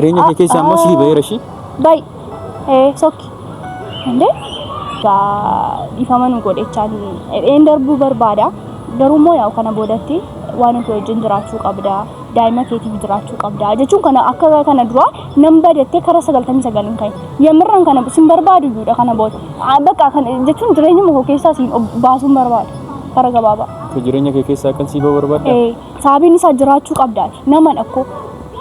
Jireenya kee keessaa immoo sii ba'eera ishii. Bayi. Ee sokki. Indee. Dhiifama nu godhechaan dheen darbuu barbaada. Garuu immoo yaa'u kana boodatti waan ofii wajjin jiraachuu qabda. Daa'ima keetiif jiraachuu qabda. Jechuun kana akka kana dura nan badettee kara sagaltamii sagal hin ka'in. Yamirran kana sin barbaadu iyyuudha kana booda. Bakka kana jechuun jireenya koo keessaa siin baasuun barbaada. Kara gabaabaa. Jireenya kee keessaa akkan sii ba'u barbaadda? Ee. Saabiin isaa jiraachuu qabda nama dhakko.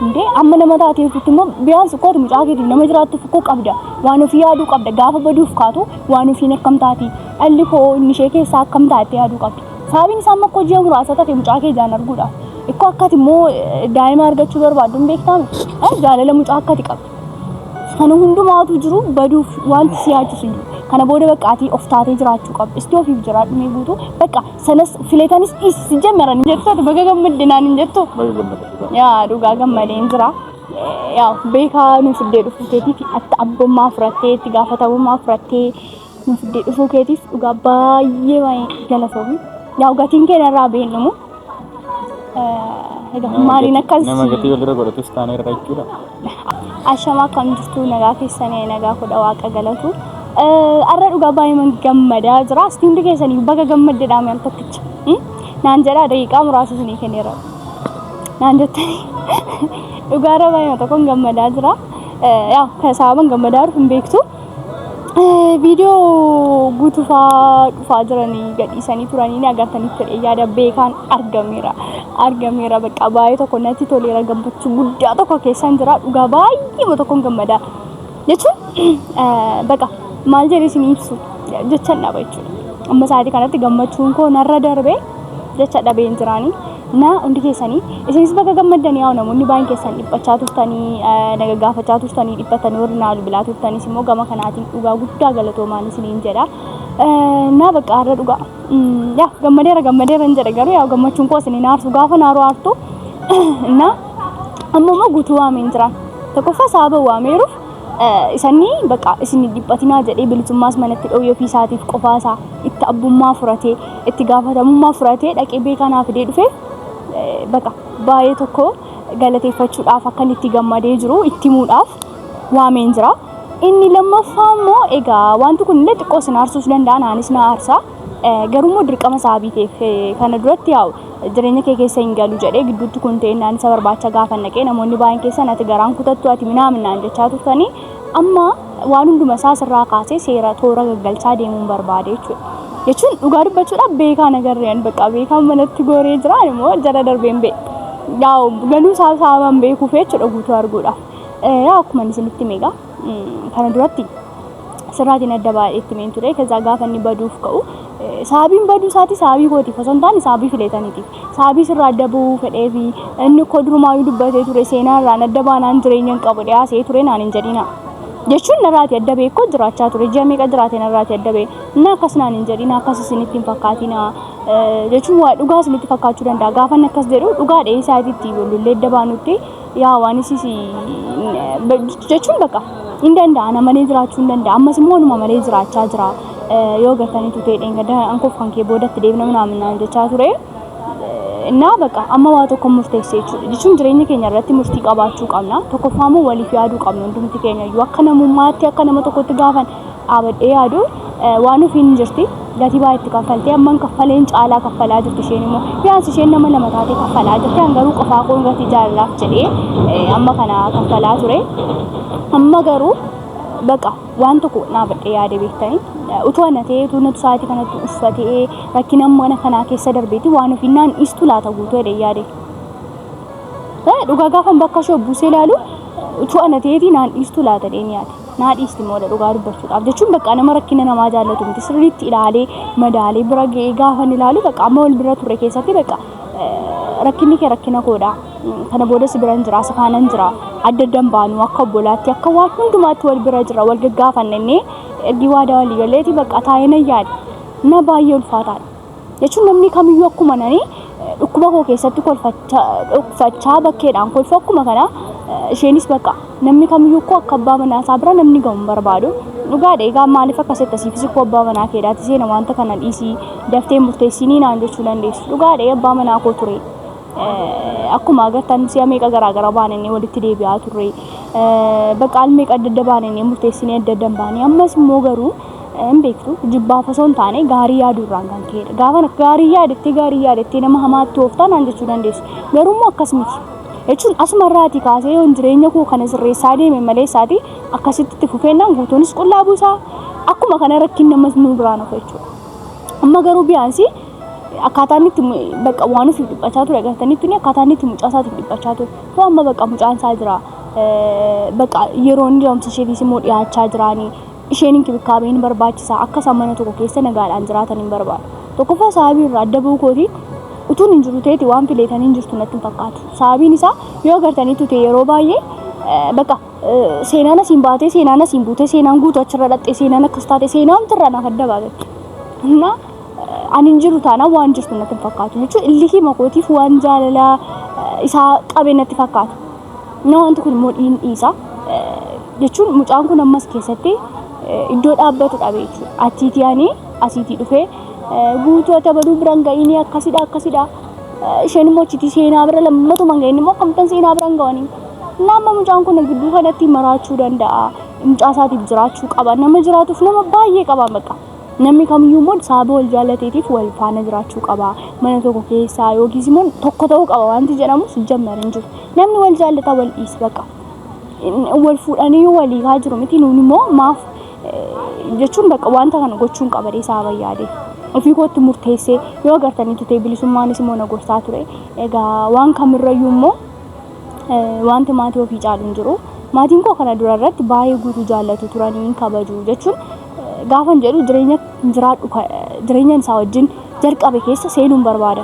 Indee amma nama taatee ofitti immoo biyaan sukkootu mucaa keetiif nama jiraattuuf koo qabda. Waan ofii yaaduu qabda gaafa baduuf kaatu waan ofiin akkam taati. Dhalli koo inni ishee keessaa akkam taate yaaduu qabda. Saabiin isaa amma koo ji'a muraasa tafe mucaa kee jaan arguudha. Ikkoo akkati immoo daa'ima argachuu barbaaddu hin beektaame. Jaalala mucaa akkati qabda. Kana hundumaa utuu jiru baduuf wanti si yaachisu hin jiru. Kana booda bakka ati of taatee jiraachuu qabda. Isti ofiif jiraadhu mee guutuu. Bakka sanas filetanis dhiisi si jammaran hin jettu ati baga gammadde naan hin jettu. Baga gammadde. Yaa dhugaa gammadeen jira. Yaa beekaa nu fiddee dhufuu keetiif atta abbummaa fudhattee itti gaafatamummaa fudhattee nu fiddee dhufuu keetiif dhugaa baay'ee baay'ee galatoomi. Yaa gatiin keenya irraa beennumu. Egaa maaliin akkas Nama gatii walirra godhatus taanee irra jechuudha. ashama akkam jirtu nagaa keessanii nagaa kudha waaqa galatu. Arra dhugaa baay'ee gammadaa jira. Istiindi keessanii baga gammadde dhaame al tokkicha. Naan jedhaa daqiiqaa muraasa isinii kenneera. Naan jettanii dhugaa irra baay'ee tokkoon gammadaa jira. Yaa kan sababan gammadaa jiru hin beektu. Viidiyoo guutuufaa dhufaa jiranii gadhiisanii turanii ni agartaniif jedhee yaada beekaan argameera. Argameera bakka baay'ee tokko natti toleera gammachuu guddaa tokko keessan jira dhugaa baay'ee tokkon gammadaa. Jechuun bakka maal jedhee isin ibsu jechan dhaba jechuudha. Amma sa'aatii kanatti gammachuun koo narra darbee jecha dhabeen jiraanii. Na hundi keessanii isinis baga gammaddan yaa'u namoonni baay'een keessan dhiphachaa turtanii naga gaafachaa turtanii dhiphattanii warri naa bilbilaa turtanis immoo gama kanaatiin dhugaa guddaa galatoomaan isiniin jedha. Na bakka har'a dhugaa yaa gammadeera gammadeera hin jedha garuu yaa gammachuun koo isiniin aarsu gaafa naaroo aartu na amma immoo guutuu waameen jira. Tokkoffaa sababa waameeruuf Isanni baqa isin hin dhiphatinaa jedhee bilisummaas manatti dhoowwee ofii isaatiif qofaa isaa itti abbummaa furatee itti gaafatamummaa furatee dhaqee beekaa naa fidee dhufe baqa baay'ee tokko galateeffachuudhaaf akkan itti gammadee jiru itti himuudhaaf waameen jira. Inni lammaffaa immoo egaa wanti kun illee xiqqoo isin aarsuus danda'a naanis na aarsa. Garuu immoo dirqama sababii ta'eef kana duratti yaa'u jireenya kee keessa hin galu jedhee gidduutti kun ta'e naan isa barbaacha gaafa naqee namoonni baay'een keessan ati garaan kutattu ati minaaminaan jechaa turtanii amma waan hunduma isaa asirraa kaasee seera toora gaggalchaa deemuun barbaade jechuudha. Jechuun dhugaa dubbachuudhaaf beekaa nagarreen bakka beekaan manatti gooree jira immoo jala darbeen bee. Yaa galuu isaa isaa waan beekuuf jechuudha guutuu arguudha. Yaa akkuma isinitti meegaa. kana duratti sirraatiin adda baay'ee itti meen ture keessaa gaafa inni baduuf ka'u saabiin baduu isaati saabii kootiif osoo hin taane saabii fileetaniitiif saabii sirraa adda bahuu fedhee fi inni koo durumaayuu dubbatee ture seenaa irraan adda baanaan jireenya hin qabu dhiyaasee ture naan hin jedhina jechuun narraati adda bahee koo jiraachaa ture ji'a meeqa jiraate narraati adda bahee inni akkas naan hin jedhina akkas isinitti hin fakkaatina jechuun waa dhugaa isinitti fakkaachuu danda'a gaafa inni akkas jedhu dhugaa dheeyisaatiitti lullee adda baanutti yaa waan isiis jechuun baqa hin danda'a ana malee jiraachuu hin danda'a ammas immoo anuma malee jiraachaa jira yoo gartanii tutee dheengadda ankoof kan kee boodatti deemna minaamin naan jechaa ture innaa baqa amma waa tokko murteessee jechuudha jechuun jireenya keenya irratti murtii qabaachuu qabna tokkoffaa immoo waliif yaaduu qabna hundumti keenya iyyuu akka namummaatti akka nama tokkotti gaafan dhaabadhee yaadu waan ofiin hin jirti. Gatii baay'ee itti kaffaltee amman kaffaleen caalaa kaffalaa jirti isheen immoo. Yaas isheen nama lama taatee kaffalaa jirti. An garuu qofaa koon gatii jaalalaaf jedhee amma kana kaffalaa ture. Amma garuu baqa waan tokko dhaabadhee yaade beektanii. Utuu ana ta'ee utuu natu sa'aatii kanatti uffatee rakkina amma kana kanaa keessa darbeeti waan ofiin naan dhiistu laata guutuu jedhee yaade. Dhugaa gaafan bakka ishee buusee ilaalu utuu ana ta'eeti naan dhiistu laata jedhee yaade. naa dhiisti moola dhugaa dubbachuudhaaf jechuun bakka nama rakkina namaa jaallatu miti sirriitti ilaalee madaalee bira ga'ee gaafan ilaalu bakka amma wal bira turre keessatti bakka rakkinni kee rakkina koodha kana booda si biran jira si faanan jira adda addan baanu akka obbolaatti akka waan hundumaatti wal bira jira wal gaggaafanne inni ergi waadaa walii galeeti bakka taa'ee na yaada na baay'ee ulfaataadha. jechuun namni kamiyyuu akkuma nani dhukkuba koo keessatti kolfachaa bakkeedhaan kolfa akkuma kana isheenis bakka namni kamiyyuu koo akka abbaa manaa isaa bira namni gahu hin barbaadu. Dhugaadha egaa maaliif akkas akka siifis koo abbaa manaa keedhaati seena wanta kana dhiisii daftee murteessinii naan jechuu dandeessu. Dhugaadha abbaa manaa koo ture. Akkuma agartan si'a meeqa garaa gara baananii walitti deebi'aa turre. Bakka al meeqa adda adda baananii murteessinee adda adda hin baane. Ammas immoo garuu Hin beektu. Jibbaaf osoo hin taane gaarii yaaduu irraan kan ka'edha. Gaafa gaarii yaadettee gaarii yaadettee nama hamaatti ooftaa naan jechuu dandeessi. Garuu immoo akkas miti. Jechuun asuma irraatii kaasee yoon jireenya koo kana sirreessaa deeme malee isaatii akkasitti itti fufeennaan guutuunis qullaa buusaa akkuma kana rakkin namas nu biraa nufa jechuudha. Amma garuu biyaansii akkaataa inni itti bakka waan ofiif dhiphachaa ture agartanii tuni akkaataa inni itti mucaa isaatiif dhiphachaa ture. Too amma bakka mucaan isaa jira. Bakka yeroo inni da'umsa isheetiis immoo dhiyaachaa jiraanii. Isheen inkibikaabee ni barbaachisa. Akka isaan mana tokko keessa nagaadhaan jiraatan hin barbaadu. Tokkoffaa saabii irraa adda ba'uu kootiin utuun hin jiru ta'eeti waan fileetan hin jirtu natti hin fakkaatu. Saabiin isaa yoo agartaniitu ta'e yeroo baay'ee baqa seenaan asiin baatee seenaan asiin buutee seenaan guutuu achirra dhaxxee seenaan akkas taate seenaan tirra naaf adda baafatti. Innaa ani hin jiru taanaan waan jirtu natti hin fakkaatu jechuun illikii makootiif waan jaalalaa isaa qabe natti fakkaata. Inni wanti kun immoo dhiin dhiisa jechuun mucaan kun ammas keessatti iddoo dhaabbatu dhabe jechuudha. Achiitii ani asiitii dhufee guutuu ati abaluu biraan ga'inii akkasidha akkasidha. Isheen immoo achiitii seenaa bira lammatuma hin ga'in immoo akkamittan seenaa bira hin ga'anii. Nama mucaan kun gidduu kanatti maraachuu danda'a. Mucaa isaatiif jiraachuu qaba. Nama jiraatuuf nama baay'ee qaba baqa. Namni kamiyyuu immoo sababa wal jaalateetiif wal faana jiraachuu qaba. Mana tokko keessaa yookiis immoo tokko ta'uu qaba wanti jedhamu sijjammer hin jiru. Namni wal jaallataa wal dhiisi baqa. Wal fuudhanii yoo walii haa jiru miti nuun immoo maaf jechuun baqa wanta kana gochuun qabadee isaa bayyaadee. Ofii kootti murteessee yoo agartanii tutee bilisummaanis immoo na gorsaa ture. Egaa waan kamirrayyuu immoo wanti maatii ofii caalu hin jiru. Maatiin koo kana dura irratti baay'ee guutuu jaallatu turanii hin kabaju jechuun gaafan jedhu jireenya jiraadhu jireenyan isaa wajjin jalqabe keessa seenuun barbaada.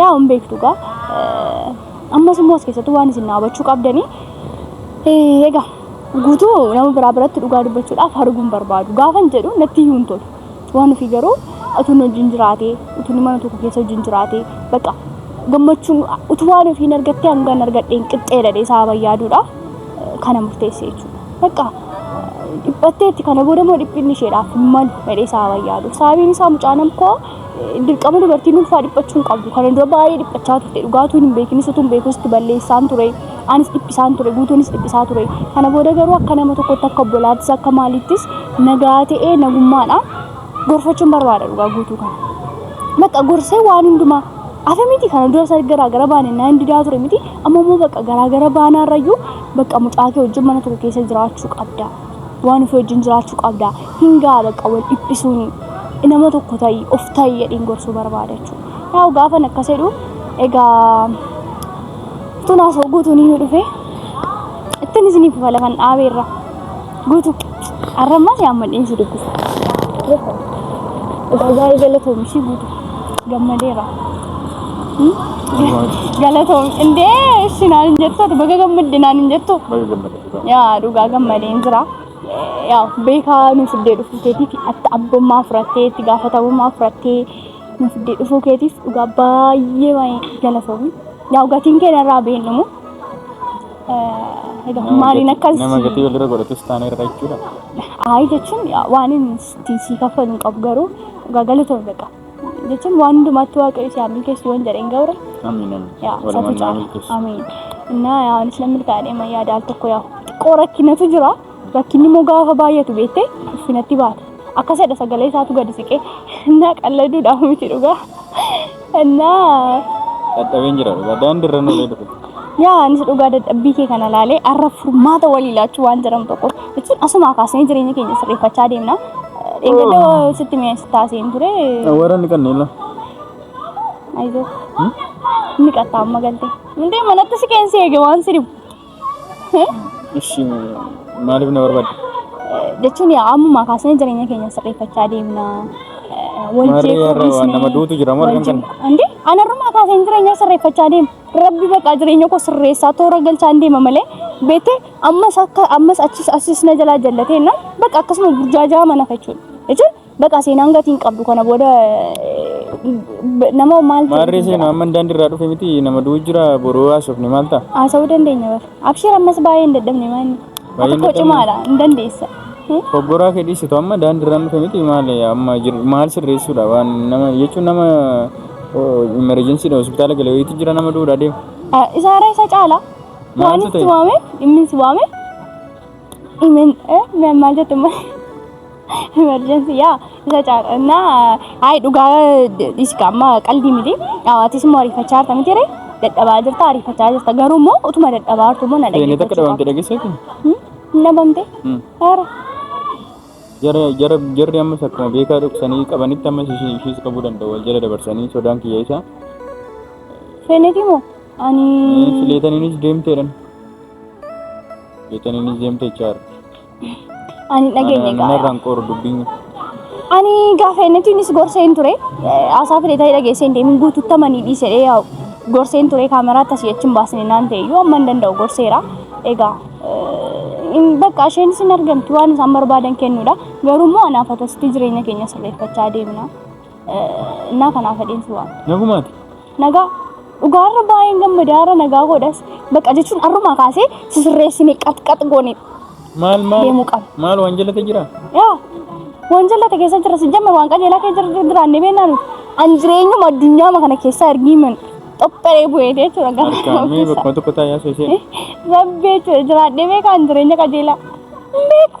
Yaa hin beektu gaa. Ammas immoo as keessatti waan isin dhaabachuu qabdanii. Egaa guutuu nama biraa biratti dhugaa dubbachuudhaaf arguun barbaadu. Gaafan jedhu natti iyyuu hin tolu. Waan ofii garuu utuun wajjin jiraatee, utuun mana tokko keessa wajjin jiraatee, bakka gammachuun utuu waan ofii hin argattee hangan argadheen qixxeedha jedhee isaa bayyaadudha. Kana murteessee jechuudha. Bakka dhiphatteetti kana booda immoo dhiphinni isheedhaaf hin malu jedhee isaa bayyaadu. Sababiin isaa mucaan koo dirqama dubartiin ulfaa dhiphachuu hin qabdu. Kana dura baay'ee dhiphachaa turte. Dhugaatuu hin beekinis utuu hin beekus itti balleessaan ture. Anis dhiphisaan ture. Guutuunis dhiphisaa ture. Kana booda garuu akka nama tokkotti akka obbolaattis akka maalittis nagaa ta'ee nagummaadhaan gorfachuun barbaada dhugaa guutuu kana. Bakka gorsee waan hundumaa afa miti kana dura isa garaa gara baane naan didaa ture miti amma immoo bakka garaa gara baanaa irrayyuu bakka mucaa kee wajjin mana tokko keessa jiraachuu qabda. waan ofii wajjin jiraachuu qabda hin ga'a bakka wal dhiphisuun nama tokko ta'i of ta'i jedhiin gorsuu barbaada jechuudha. Yaa'u gaafan akkas jedhu egaa tun haasoo guutuun inni dhufe ittiin isiniif ufa lafan dhaabeerra guutu arrammaa si amma dhiinsi dubbisa. Egaa baay'ee galatoomi ishii guutu gammadeera. Galatoomi indee ishi naan hin jettu ati baga gammadde naan hin jettu. Baga gammade. Yaa dhugaa gammadeen jira. Yaa beekaa nu fiddee dhufuu keetiif atti abbummaa fudhattee itti gaafatamummaa fudhattee nu fiddee dhufuu keetiif dhugaa baay'ee baay'ee galatoomi. Yaa gatiin keenya irraa beeknumu. Egaa maaliin akkas Nama gatii walirra godhatus taanee irra jechuudha. Ayi jechuun yaa waan inni itti sii kaffalu hin qabu garuu dhugaa galatoomi beekaa. jechuun waan hundumaatti waaqayyo si haa milkeessu yoon jedheen ga'uura. Amiin amiin. Yaa Walumaan satu naa caala. milkeessu. Amiin. Innaa yaa anis nan milkaa'e deema yaada al tokko yaa xiqqoo rakkinatu jira. Rakkinni immoo gaafa baay'atu beektee ulfinatti baata. Akkasidha sagalee isaatu gadi siqee innaa qalladuudhaaf miti dhugaa. Innaa Dadhabeen jira dhugaa daandirra nulee dhufe. yaa anis dhugaa dadhabbii kee kana laalee arra furmaata walii laachuu waan jedhamu tokko jechuun asumaa kaasnee jireenya keenya sirreeffachaa deemna. Dheengadoo sitti mi'eessi taaseen ture. Warra ni kanneen laa. Ayizoo. Ni qaxxaa amma galte. Hundee manatti si keensi eege waan si dhibu. Ishi maaliif na barbaadde? Jechuun yaa ammumaa kaasnee jireenya keenya sirreeffachaa deemna. Wal Maarree jeequu har'a waan dhiisnee- nama duutu jira maal wal kan jeequu- kana? Hundee anarrumaa kaaseen jireenya sirreeffachaa deema. Rabbi baqaa jireenya koo sirreessaa toora galchaan deema malee beektee Ammas akka ammas achis achis na jalaa jallatee na bakka akkasuma burjaajaa mana jechuudha. Jechuun bakka seenaan gatiin qabdu kana booda nama maal Maarree seenaa amma daandii irraa dhufe miti nama du'u jira boroo haasofne maal ta'a? Haasa'uu dandeenya bara. Abshiir ammas baay'ee hin dadhabne maanni. Baay'ee Akka koo cimaadha hin dandeessa. Obboraa kee dhiisitu amma daandii irraa dhufe miti maal amma jir- maal sirreessuudha waan nama jechuun nama emergensiidha hospitaala galee wayiitu jira nama du'uudha deema. Isaarra isa caala. Maaltu Waanis si ta'e? waame, dhimmin si waame. Imen, eh, me- maal jette ma? Emergency, yaa, isa caalaa. Na, ayi dhugaa dhiisi kaa, amma qalbii miti. Dhawaatis immoo ariifachaa jirta miti ree? Dadhabaa jirta, ariifachaa jirta. Garuu immoo utuma dadhabaa jirtu immoo na Seenee takka dhabamte dhageessee kun? dhaggeeffachuu Dhabamte? Hmm. Haara. Jara jara jarri ammas akkuma beekaa dhoksanii qabanitti ammas ishii ishiis qabuu danda'u wal jala dabarsanii sodaan kiyya isaa. Seeneetii moo? Ani fileetaniinis deemteedhan. Fileetaniinis deemte jechaadha. ani hin dhageenye Nama gaaya. irraan qooru dubbiin. Ani gaafa innitiinis gorseen ture. Asaa fileetanii dhageesseen deemin guututtamanii dhiisedhee yaa'u. Gorseen ture kaameraa tasii achi hin baasne naan ta'e iyyuu amma hin danda'u gorseera. Egaa eh, in- bakka isheenis hin argamtu waan isaan barbaadan kennuudha. Garuu immoo anaaf atasitti jireenya keenya sirreeffachaa deemna. Naa kanaa fedheen si waan. Nagumaati. Nagaa dhugaa irra baay'een gammadaa irra nagaa godhas baqa jechuun arrumaa kaasee si sirreessine qaxqax goone Maal maal deemuu qaba. maal waan jalate jira? Yaa waan jallate keessa jira si jamma waan qajeelaa kee jira jiraannee beennaan an jireenyuma addunyaama kana keessaa ergiiman xopheree bu'ee jechuudha gara Harkaan mee bakkuma tokko taa'ee haasoo ishee. Rabbi jechuudha jiraadhee beekaan jireenya qajeelaa. Beeku.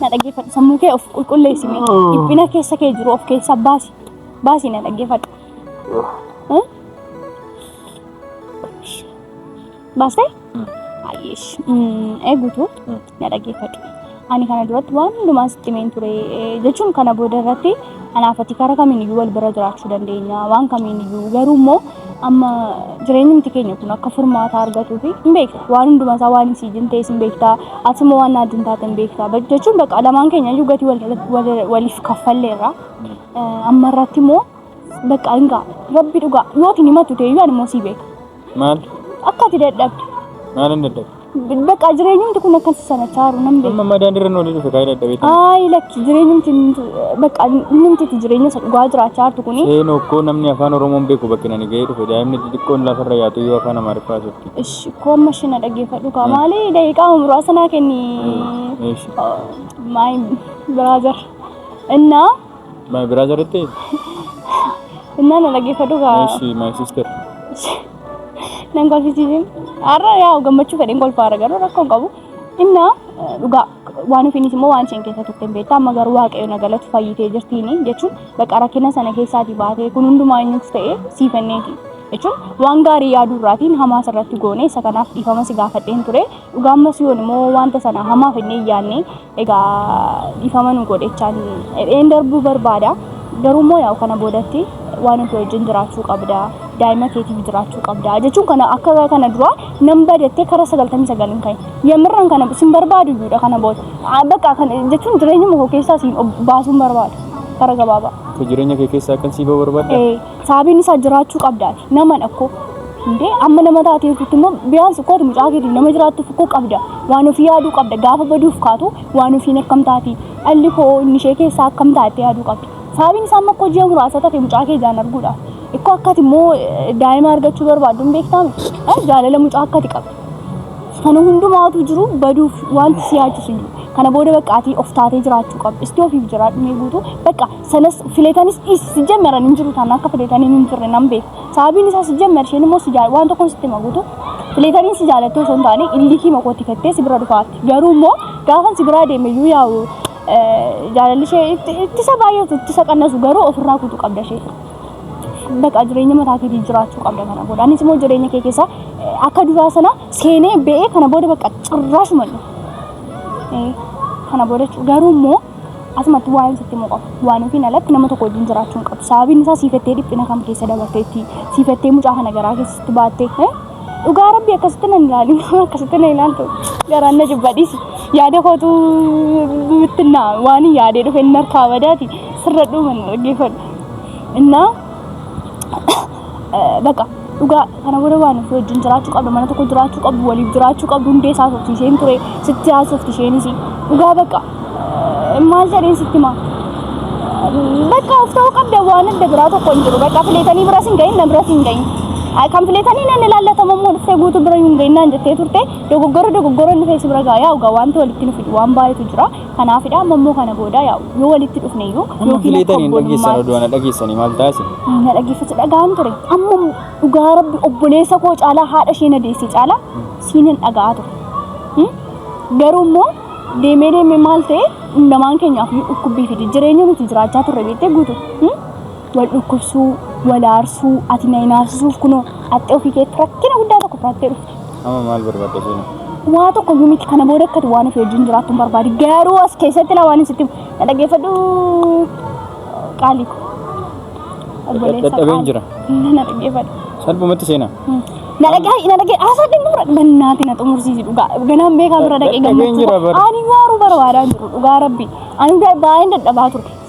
Na dhaggeeffadhu sammuu kee of qulqulleessi mee. Dhiphina keessa kee jiru of keessaa baasi. Baasi na dhaggeeffadhu. Eh? Baastee? Ayyeesh. Eeguutu na dhaggeeffadhu. Ani kana duratti waan hundumaa sitti himeen ture eh, jechuun kana booda irratti Kanaaf ati karaa kamiiniyyuu wal bira jiraachuu dandeenya waan kamiiniyyuu garuu immoo amma jireenyumti keenya kun akka furmaata argatuu fi hin beekta waan hundumaa isaa waan isii jin ta'es hin beekta ati immoo waan naajin taate hin beekta jechuun bakka lamaan keenya iyyuu gatii waliif kaffalleerra amma irratti immoo bakka hingaa rabbi dhugaa yookiin himatu ta'e iyyuu ani immoo sii beeka. Maal? Akka ati dadhabde. Maal hin dadhabde? Bakka jireenyumti kun akkas sana chaaru nan beeku. Amma madaan irra noolii dhufe kaayee dadhabee ta'e. Ayi lakki jireenyumti bakka innumti jireenya isa dhugaa jiraachaa jirtu kuni. Seen okkoo namni afaan Oromoon beeku bakka nani ga'ee dhufe daa'imni xixiqqoon lafarra yaatu yoo afaan Amaariffaa jirti. Ish koomma shina dhaggeeffadhu kaa maali daqiiqaa muraasa naa kenni. Ish. My brother. Innaa My brother itti. Innaa na dhaggeeffadhu kaa. Eshi my sister. Nan kolfisiisin. Har'a yaa gammachuu fedheen kolfaara garuu rakkoo hin qabu. Innaa eh, dhugaa waan ofiinis immoo waan isheen keessa turte hin beektu. Amma garuu waaqayyo na galatu fayyitee jirtiini jechuun bakka rakkina sana keessaatii baatee kun hundumaa eenyuuf ta'ee sii fenneeti. Jechuun waan gaarii yaaduu irraatiin hamaa irratti goone isa kanaaf dhiifama si gaafadheen ture. Dhugaa ammas yoon immoo wanta sana hamaa fennee hin yaadne Egaa dhiifama nu godhechaan edheen darbuu barbaada. Garuu immoo yaa'u kana boodatti waan nuti wajjin jiraachuu qabda. Daa'ima keetiif jiraachuu qabda. Jechuun kana akka kana duraa nan badattee kara sagaltamii sagal hin ka'in. Yammirraan kana sin barbaadu iyyuudha kana booda. Ah, Bakka kan jechuun jireenya koo keessaa siin ob- baasuun barbaada. Kara gabaabaa. Akka jireenya kee keessaa akkan sii ba'u barbaadda? Ee. Saabiin isaa jiraachuu qabda naman akkoo. Indee amma nama taatee jirtutti immoo biyaan sukkooti mucaa keetiin nama jiraattuuf koo qabda waan ofii yaaduu qabda gaafa baduuf kaatu waan ofiin akkam taati dhalli koo inni ishee keessaa akkam taate yaaduu qabda. Saabiin isaa amma akkoo ji'a muraasa tafe mucaa kee ijaan arguudha. Ikkoo akkati immoo daa'ima argachuu barbaaddu hin beektaami. Jaalala mucaa akkati qabda. Kana hundumaatu jiru baduuf wanti si yaachisu hin jiru. Kana booda bakka ati of taatee jiraachuu qabda. Isti ofiif jiraadhu mee guutuu bakka sanas filetanis dhiisi si jammaran hin jiru taana akka filetanii hin turre nan beeku. Sababiin isaa si jammar isheen immoo si jaal waan tokkoon sitti hima guutu. Filetanii si jaalatte osoo hin taane illikii makootti fettee si bira dhufaatti. Garuu immoo gaafan si biraa deeme iyyuu yaa'u jaalalli ishee itti- ittisa baay'atu ittisa qannasu garuu ofirraa kutu qabda ishee. Baqa jireenya mataa keetii jiraachuu qabda kana booda. Anis immoo jireenya kee keessa eh, akka duraa sana seenee ba'ee kana booda baqa cirraashuma hin dhufu. Eh, Kana booda jechuudha. Garuu immoo Asumatti waa'een sitti himuu qaba. Waan ofiin alatti nama tokko wajjin jiraachuu hin qabdu. Sababiin isaa siifattee dhiphina kam keessa dabarteetti, siifattee mucaa kana garaa keessatti baatte. Dhugaa rabbi akkasitti nan ilaali, akkasitti na ilaaltu. Garaan na jibba dhiisi. Yaada kootu bittinnaa waan hin yaadee dhufe inni harkaa badaati. Sirra dhuuma na dhaggeeffadhu. Innaa baqa dhugaa kana booda waan ofii wajjin jiraachuu qabdu mana tokko jiraachuu qabdu waliif jiraachuu qabdu hundee isaa softi isheen ture sitti haasofti isheenis dhugaa baqa maal jedheen sitti maa baqa of ta'uu qabda waan adda biraa tokko hin jiru baqa fileetanii biras hin gahin nan biras hin gahin kan fileetanii nan ilaallatamu immoo dhuftee guutuu bira hin gahin naan jettee turte dogoggora dogoggora inni feesi bira gaayaa dhugaa wanta walitti nu fidu waan baay'eetu jira Kanaafidha amma immoo kana booda yaa yoo walitti dhufne iyyuu Amma yookiin filee akka taniin dhageessan obbolummaatti oduu ana dhageessanii maal taasi? na dhaggeeffatu dhaga'aan ture. Amma dhugaa rabbi obboleessa koo caalaa haadha ishee na deesse caalaa siin hin dhaga'aa ture. Hmm? Garuu immoo deemee deemee maal ta'e hundamaan keenyaaf iyyuu dhukkubbii fide jireenya nuti jiraachaa turre beektee guutu. Hmm? Wal dhukkubsuu, wal aarsuu, ati na hin aarsisuuf kunoo haxxee ofii keetti rakkina guddaa tokko fudhattee dhufte. Amma maal barbaadda seena? Waa tokko iyyuu miti kana booda akkati waan ofii wajjin jiraattu hin barbaadi. Garuu as keessatti laa waan sitti na dhaggeeffadhu qaalii ko. Obboleessa Dadhabeen qaalii. jira. Na dhaggeeffadhu. Salphumatti seena. Na dhaggeeffadhu. Na dhaggeeffadhu. Haasaa dhimmuura. Bannaati na xumursiisi dhugaa. Ganaan beekaa bira dhaqee Dadhabeen jira gammachuu. bara. Ani waaruu barbaadaan jiru dhugaa rabbi. Ani baay'een dadhabaa ture.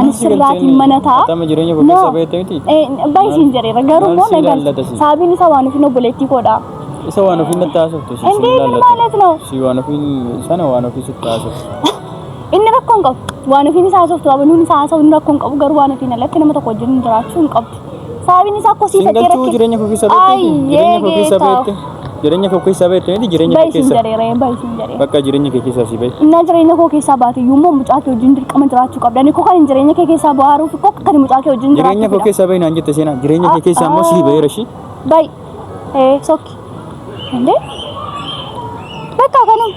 Ani sirraatiin mana ta'a. Atama jireenya koo keessaa baheetti miti. Baay'ee siin jedheera garuu immoo na galcha. Sababiin isaa waan ofiin obboleettii koodha. Isa waan ofiin natti haasoftu si Indee inni maalas noo. Si waan ofiin sana waan ofii sitti haasoftu. Inni rakkoo hin qabu. Waan ofiin isaa haasoftu qabu nuun isaa haasa'u inni rakkoo hin qabu garuu waan ofiin alatti nama tokko wajjin jiraachuu hin qabdu. Sababiin isaa akkoo sii Siin fakkee galchuu jireenya koo keessa beekte miti. Jireenya koo keessa beekte. Jireenya koo keessa beekte miti. Jireenya koo Bayi siin keessa. jedhee ree bayi siin jedhee. Bakka jireenya kee keessaa si bahe. Innaa jireenya koo keessaa baate iyyuu immoo mucaa kee wajjin dirqama jiraachuu qabda. Ani koo kan hin jireenya kee keessaa bohaaruuf koo akka kan mucaa kee wajjin Jireenya koo jiraachuu keessaa bahe naan jette seenaa. Jireenya kee keessaa immoo si baheera ishii. Bayi. Ee sokki. Indee. Bakka kanuma.